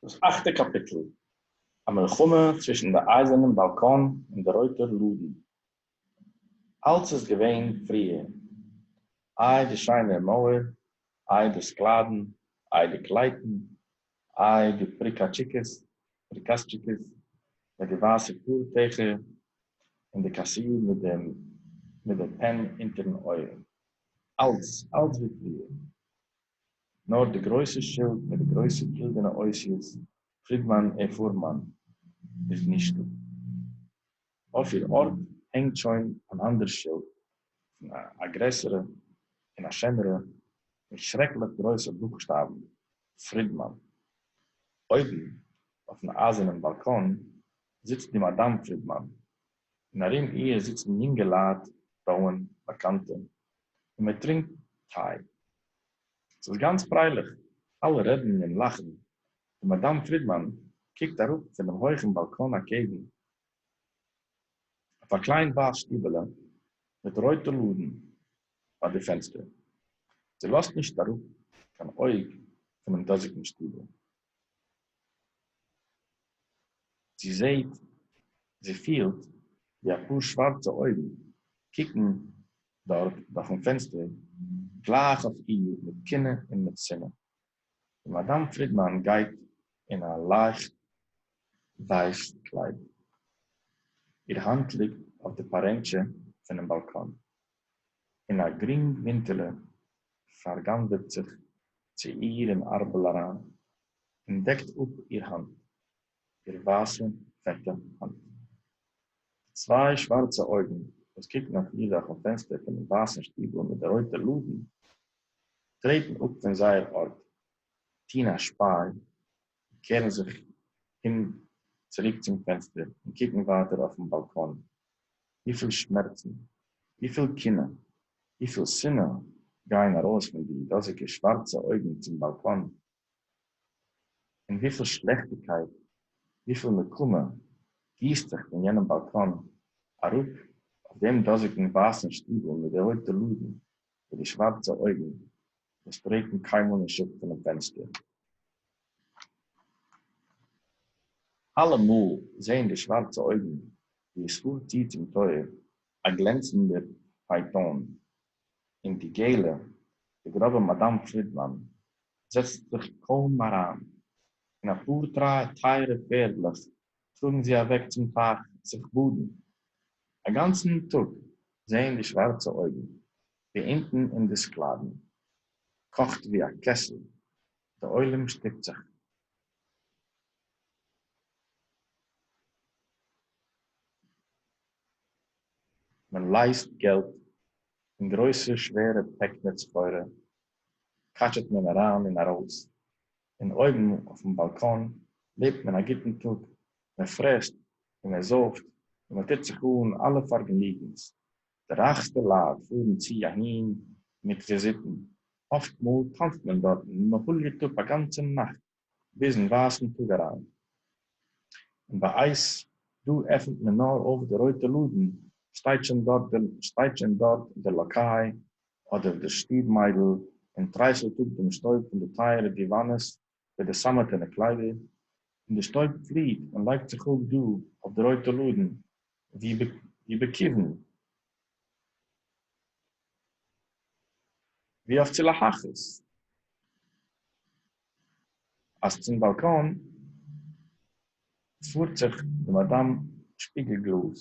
דאס אכטע קאפיטל, א מלחמה צווישן די אייזערנעם באלקאן און די רויטער לאדן. אלץ איז געווען פריער. איי די שיינע מויער, איי די סקלאדן, איי די קלייטן, איי די פריקאטשיקעס, פריקאסטשיקעס, ביי די ווייסע פארטעכער, און די קאסיר מיט דעם מיט דער פען אונטערן אויער. אלץ, אלץ ווי פריער. נאר די גרויסע שילד מיט די גרויסע גילדענע אותיות פרידמאן ע פורמאן איז נישטא. אויף איר ארט הענגט שוין אן אנדער שילד פון א גרעסערע און א שענערע מיט שרעקליך גרויסע בוכשטאבן פרידמאן. אויבן אויפן אייזערנעם באלקאן זיצט די מאדאם פרידמאן און ארום איר זיצן יונגעלייט, פרויען, באקאנטע, און מען טרינקט טיי. ס'איז גאנץ פרייליך, אלע רעדן און לאכן, די מאדאם פרידמאן קוקט אראפ פונעם הויכן באלקאן אקעגן, אויף א קליין ווייס שטיבעלע מיט רויטע לאדן ביי די פענסטער, זי לאזט נישט אראפ קיין אויג פונעם דאזיגן שטיבל. זי זעהט, זי פילט, ווי א פאר שווארצע אויגן קוקן דארט דורכן פענסטער גלייך אויף איר מיט קנאה און מיט שנאה. די מאדאם פרידמאן גייט אין א לייכט ווייס קליידל. איר האנט ליגט אויף די פארענטשע פונעם באלקאן. און אַ גרינג הינטעלע פֿאַרגאַנדערט זיך צו איר אין אַרבל אַרײַן און דעקט אָפּ איר האַנט, איר װײַסע פֿעטע האַנט. די צװײ שװאַרצע אױגן, װאָס קוקן אױף איר דורכן פֿענצטער פֿונעם װײַסן שטיבל מיט די רױטע לאָדן, טרעטן אָפּ פֿון זײער אָרט, טאָן אַ שפּײַ קערן זיך אום צוריק צום פענסטער און קוקן ווייטער אויפן באלקאן. וויפיל שמערצן, וויפיל קנאה, וויפיל שנאה גייען ארויס פון די דאזיגע שווארצע אויגן צום באלקאן, און וויפיל שלעכטיגקייט, וויפיל נקמה גיסט זיך פון יענעם באלקאן אראפ אויף דעם דאזיגן ווייסן שטיבל מיט די רויטע לאדן וואו די שווארצע אויגן נישט טרעטן קיינמאל אין שטח פונעם פענסטער. אלעמאל זעהן די שווארצע אויגן ווי עס פארט צו צום טויער א גלענצנדער פייטאן, און די געלע, די גראבע מאדאם פרידמאן זעצט זיך קוים אריין, און א פאר טרייע טייערע פערדלעך טראגן זי אוועק צום טייך זיך באדן. א גאנצן טאג זעהן די שווארצע אויגן די אינטן אין די סקלאדן קאכט ווי א קעסל, די עולם שטופט זיך. מען לייזט געלט אין גרויסע שווערע פעקלעך סחורה, קאטשעט מען אריין און ארויס, און אויבן אויפן באלקאן לעבט מען א גוטן טאג, מען פרעסט און מען זויפט און מען טוט זיך אן אלע פארגעניגנס, די רייכסטע לייט פארן צו אהין מיט וויזיטן, אפט מאל טאנצט מען דארטן און מען הוליעט אפ א גאנצע נאכט ביזן ווייסן טאג אריין, און ביי אייס דא עפנט מען נאר אויף די רויטע לאדן, שטייט שוין דארט די שטייט שוין דארט די לאקיי אדער די שטוב מיידל און טרייסלט אפ דעם שטויב פון די טייערע דיוואנעס וועט די סאַמעטענע קליידער און די שטויב פליט און לייגט זיך אָפּ דאָ אויף די רויטע לאָדן ווי בעקיוון, ווי אויף צו להכעיס, אַז צום באַלקאָן פאָרט זיך די מאַדאַם שפּיגל-גלאָז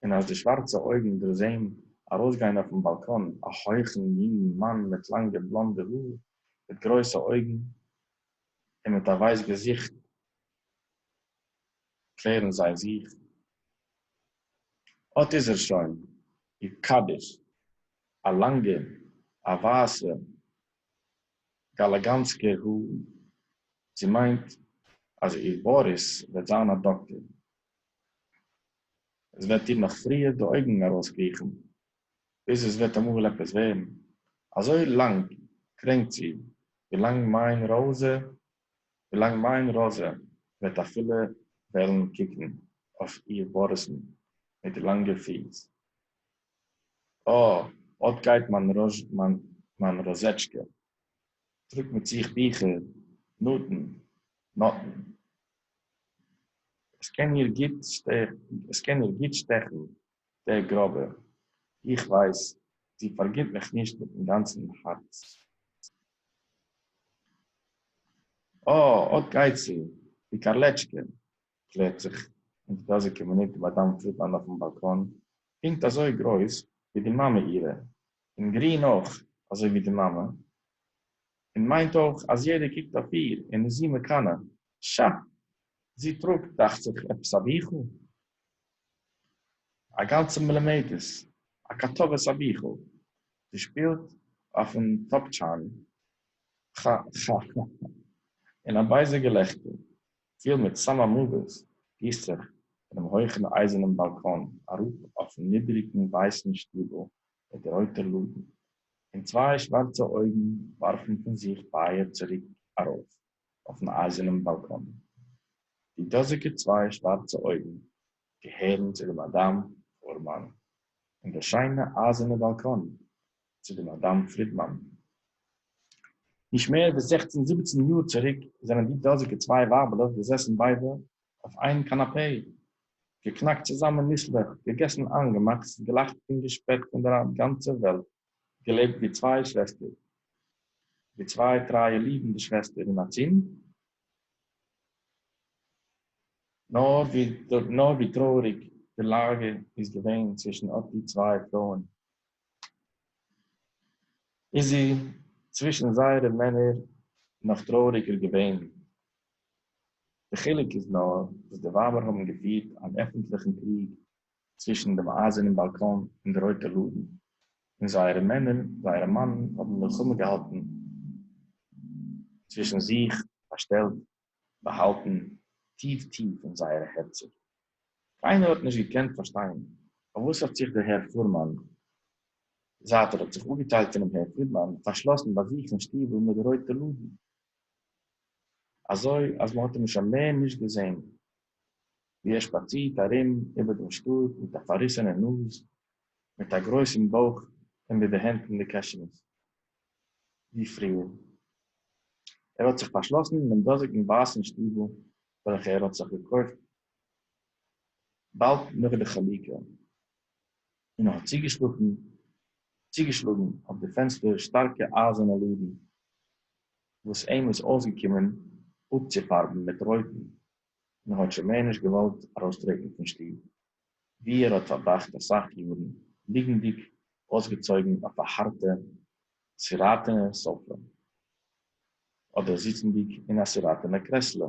און אַז די שװאַרצע אױגן דערזעען אַרױסגײן אױפֿן באַלקאָן אַ הױכן יונגן מאַן מיט לאַנגע בלאָנדע האָר, מיט גרױסע אױגן און מיט אַ װײס געזיכט, קלערן זײ זיך, אָט איז ער שױן, איר קדיש! אַ לאַנגע, אַ װײַסע, גאַלאַגאַנסקער האָר. זי מײנט, אַז איר באָריס װעט זײַן אַ דאָקטער, עס וועט איר נאך פריער די אויגן ארויסקריכן, ביז עס וועט אמאל עפעס ווערן. אזוי לאנג קרענקט זי, ווי לאנג מיין ראזע, ווי לאנג מיין ראזע וועט אפילו וועלן קוקן אויף איר באריסן מיט די לאנגע פיס. אה, אט גייט מיין ראזש, מיין ראזעטשקע. טראגט מיט זיך ביכער, נאטן, נאטן. עס קען איר גוט שטעכן דער גראָבער, איך ווייס, זי פאַרגינט מיך נישט מיטן גאַנצן האַרץ. אָ, אָט גייט זי, די קאַרלעטשקע! קלערט זיך אין די דאָזיקע מינוט מאַדאַם פרידמאַן אויפן באַלקאָן, פּונקט אַזוי גרויס ווי די מאַמע אירע, און גרין אויך אַזוי ווי די מאַמע, און מיינט אויך, אַז יעדער קוקט אויף איר און איז זי מקנא. שאַ! זי טראָגט, דאַכט זיך, עפּעס אַ ביכל, אַ גאַנצע מלומדת, אַ קאַטאָוועס אַ ביכל. זי שפּילט אויפֿן טאָפּטשאַן. כאַ-כאַ-כאַ! און אַ בייזער געלעכטער, פֿיל מיט סאַמאָמאָוועס, גיסט זיך פֿונעם הויכן אײַזערנעם באַלקאָן אַראָפּ אויפֿן נידעריקן ווײַסן שטיבל מיט די רויטע לאָדן, און צוויי שוואַרצע אויגן וואַרפֿן פֿון זיך פֿײַער צוריק אַרויף. אויפן אייזערנעם באלקאן. די דאזיגע צוויי שווארצע אויגן געהערן צו די מאדאם פורמאן, און די שיינע אייזערנע באלקאן צו די מאדאם פרידמאן. נישט מער ווי זעכצן זיבעצן יאר צוריק זענען די דאזיגע צוויי ווייבעלעך געזעסן ביידע אויף איין קאנאפעי, געקנאקט צוזאמען ניסלעך, געגעסן איינגעמאקס, געלאכט און געשפעט פון דער גאנצער וועלט. געלעבט ווי צוויי שוועסטער, ווי צוויי טרייע ליבנדע שוועסטער און א זון, נאר ווי טרויעריג די לאגע איז געווען צווישן אט די צוויי פרויען, איז זי צווישן זייערע מענער נאך טרויעריגער געווען. דער חילוק איז נאר, וואס די ווייבער האבן געפירט אן עפנטליכן קריג צווישן דעם אײַזערנעם באַלקאָן און די רױטע לאָדן, און זײערע מענער, זײערע מאַנען, האָבן מלחמה געהאַלטן צװישן זיך, פֿאַרשטעלט, באַהאַלטן טיף-טיף אין זײערע הערצער. קײנער האָט נישט געקענט פֿאַרשטײן, אױף װאָס האָט זיך דער הער פֿורמאַן, זײַט ער האָט זיך אָפּגעטײלט פֿונעם הער פֿרידמאַן, פֿאַרשלאָסן בײַ זיך אין שטיבל מיט די רױטע לאָדן, אַזױ, אַז מע האָט אים שױן מער נישט געזען, ווי ער שפאצירט ארום איבער דעם שטאט מיט א פארריסענע נאז, מיט א גרויסן בויך און מיט די הענט אין די קעשענעס ווי פריער. ער האט זיך פארשלאסן אין דעם דאזיגן ווייסן שטיבל וועלכע ער האט זיך געקויפט באלד נאך די חלוקה. און האָט צוגעשלאָגן, צוגעשלאָגן אויף די פֿענצטער שטאַרקע אײַזערנע לאָדן, וואָס אים איז אויסגעקומען אָפּצופֿאַרבן מיט רויטן, און האָט שוין מער נישט געוואָלט אַרויסטרעטן פֿון שטוב, וווּ ער האָט פֿאַרבראַכט אַ סך יאָרן, ליגנדיק אויסגעצויגן אויף אַ האַרטע, סיראָטענע סאָפֿע, אָדער זיצנדיק אין אַ סיראָטענע קרעסלע,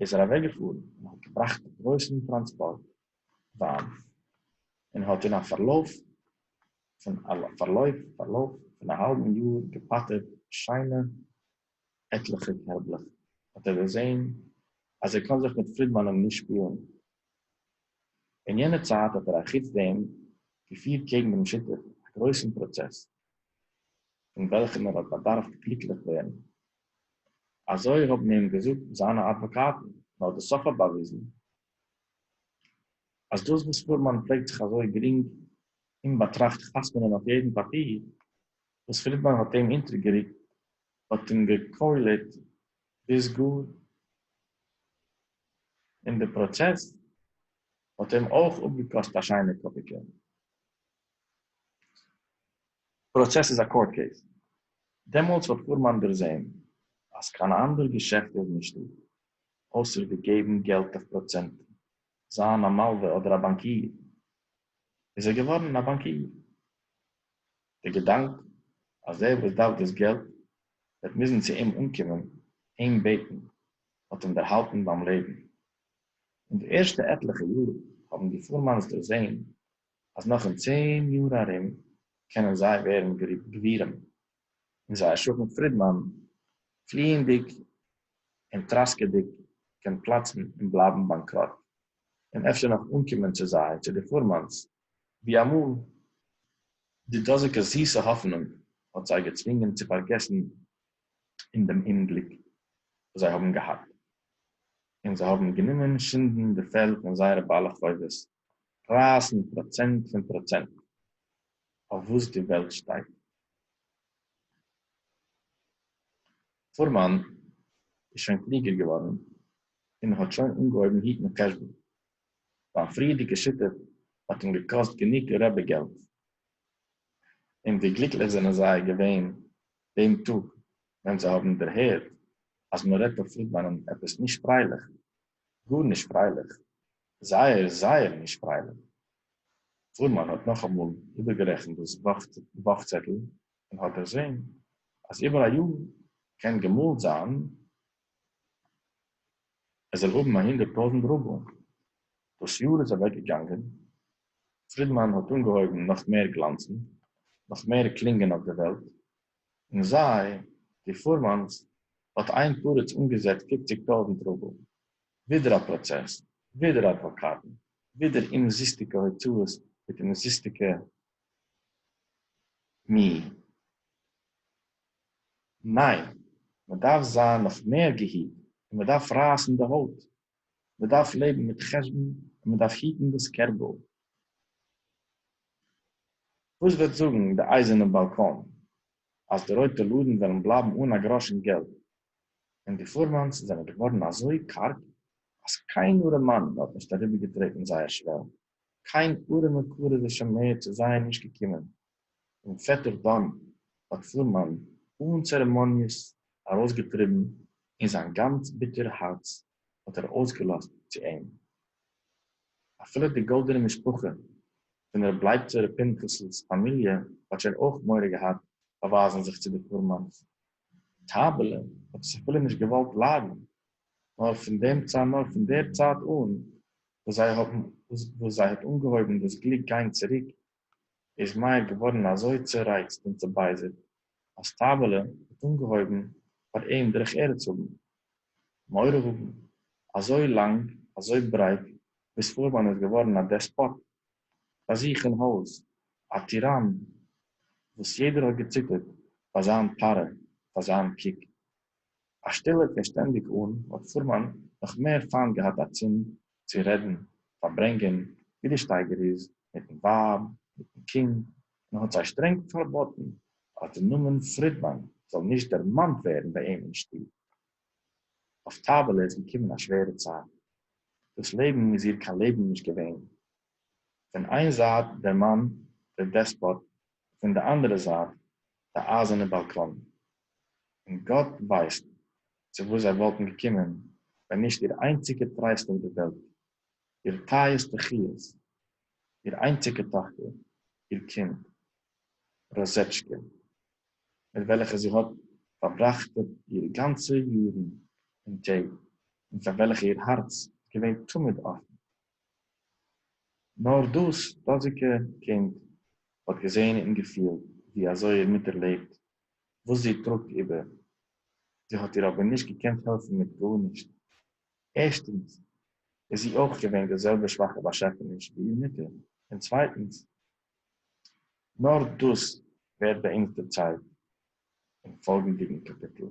איז ער אַװעקגעפֿאָרן און האָט געבראַכט אַ גרױסן טראַנספּאָרט װײַן און האָט אין אַ פֿאַרלױף פֿון אַ פֿאַרלױף פֿאַרלױף פֿון אַ האַלבן יאָר געפּאַטערט שײנע עטלעכע קערבלעך, האָט ער דערזען, אַז ער קאָן זיך מיט פֿרידמאַנען נישט שפּילן. אין יענער צײַט האָט ער אַחוץ דעם געפֿירט קעגן דעם שותּף אַ גרױסן פּראָצעס, אין װעלכן ער האָט באַדאַרפֿט גליקלעך װערן אזוי האבן אים געזאגט זיינע אדוואקאטן, נאר די סוף האט באוויזן אז דאס וואס פורמאן פלעגט זיך אזוי גרינג אומבאטראכט חתמ'נען אויף יעדן פאפיר וואס פרידמאן האט אים אונטערגערוקט האט אים געקוילעט ביז גאר און די פראצעס האט אים אויך אפגעקאסט א שיינע קאפיקע. פראצעס איז א קאורט קעיס. דעמאלטס האט פורמאן דערזעהן אז קיין אנדער געשעפט איז נישטא אויסער ווי געבן געלט אויף פראצענטן, זיין א מלווה אדער א באנקיר, איז ער געווארן א באנקיר. די געדאנק אז דער וואס דארף דאס געלט וועט מוזן צו אים אנקומען אים בעטן האט אים דערהאלטן ביים לעבן. אין די ערשטע עטליכע יאר האבן די פורמאנס דערזעהן אז נאך אין צען יאר ארום קענען זיי ווערן גבירים און זייער שכן פרידמאן פליענדיג און טראסקעדיג קען פלאצן און בלייבן באנקראט און אפשר נאך אנקומען צו זיי צו די פורמאנס ווי אמאל די דאזיגע זיסע האפענונג האט זיי געצווינגען צו פארגעסן אין דעם אומגליק וואס זיי האבן געהאט און זיי האבן גענומען שינדן די פעלד פון זייערע בעלי חובות רײַסן פּראָצענט פֿון פּראָצענט אויף וואָס די וועלט שטייט. פֿורמאַן איז שוין קלוגער געוואָרן און האָט שוין אָנגעהויבן היטן חשבון. זײַן פֿריִערדיקע שיטה האָט אים געקאָסט גענוג רעבע-געלט. און ווי גליקלעך זענען זיי געווען דעם טאָג, ווען זיי האָבן דערהערט, אַז מע רעדט אויף פֿרידמאַנען עפּעס נישט פֿריילעך, גארנישט פרייליך, זייער זייער נישט פרייליך. פורמאן האט נאכאמאל איבערגערעכנט דאס וואך צעטל און האט דערזען אז איבער א יאר קען געמאלט זיין עס זאל האבן א הונדערט טויזנט רובל. דאס יאר איז אוועקגעגאנגען, פרידמאן האט אנגעהויבן נאך מער גלאנצן, נאך מער קלינגען אויף די וועלט, און זיי, די פורמאנס, האט איין פרץ אנגעזעצט פופציג טויזנט רובל. ווידער א פראצעס, ווידער אדוואקאטן, ווידער אומזיסטיגע הוצאות מיט אומזיסטיגע מי. ניין, מ'דארף זיין נאך מער געהיט און מ'דארף רייסן די הויט מען דארף לעבן מיט חשבון און מען דארף היטן דאס קערבל. וואס וועט זאגן די אייזערנע באלקאן אז די רויטע לאדן וועלן בלייבן אן א גראשן געלט און די פורמאנס זענען געווארן אזוי קארג אז קיין ארעמאן האט נישט אריבערגעטרעטן זייער שוועל? קיין ארעמע קרוב איז שוין מער צו זיי נישט געקומען, און פעטער דאן האט פלומאן אן צערעמאניעס ארויסגעטריבן, און זיין גאנץ ביטער הארץ האט ער אויסגעלאזט צו אים. אפילו די גאלדענע משפחה פון רב לייבצער ר' פנחס'לס פאמיליע האט שוין אויך מורא געהאט באווייזן זיך צו די פלומאנ'ס. טייבעלע האט עס אפילו נישט געוואלט ליידן, נאר פון דעם צייט נאר פון דער צייט אן וואס זיי האבן וואס זיי האט אנגעהויבן דאס גליק גיין צוריק איז מאיר געווארן אזוי צורייצט און צובייזערט אז טייבעלע האט אנגעהויבן פאר אים דרך ארץ האבן מורא האבן אזוי לאנג אזוי ברייט ביז פארמאן איז געווארן א דעספאט ביי זיך אין הויז א טיראן וואס יעדער האט געציטערט פאר זיין פארע פאר זיין קוק. אַ שטילע פֿון שטענדיק אָן, האָט פֿורמאַן נאָך מער פֿײַנט געהאַט אַ צונד צו רעדן, פֿאַרברענגען, װי די שטײגער איז, מיטן װײַב, מיטן קינד, און האָט זײ שטרענג פֿאַרבאָטן, אַז דער נאָמען פֿרידמאַן זאָל נישט דערמאַנט װערן בײַ אים אין שטוב. אױף טײַבעלע איז געקומען אַ שװערע צײַט. דאָס לעבן איז איר קײן לעבן נישט געװען. פֿון אײן זײַט דער מאַן, דער דעספּאָט, פון די אנדערע זייט די אייזערנע באלקאנען, און גאט ווייסט צו וואס זיי וואלטן געקומען ווען נישט איר איינציגע טרייסט אויף די וועלט, איר טייערסטע חיות, איר איינציגע טאכטער, איר קינד ראזעטשקע, מיט וועלכע זי האט פארבראכט איר גאנצע יארן און טעג, און פאר וועלכע איר הארץ איז געווען תמיד אפן. נאָר דאָס דאָזיקע קינד האָט געזען און געפֿילט, װי אַזױ איר מוטער לעבט, װאָס זי טראָגט איבער. זי האָט איר אָבער נישט געקענט העלפֿן מיט גאָרנישט. ערשטנס, איז זי אױך געװען די זעלבע שװאַכע באַשעפֿעניש, װי איר מוטער. און צװײטנס, נאָר דאָס װערט באַ אונדז דערצײלט אין פֿאָלגנדיקן קאַפּיטל.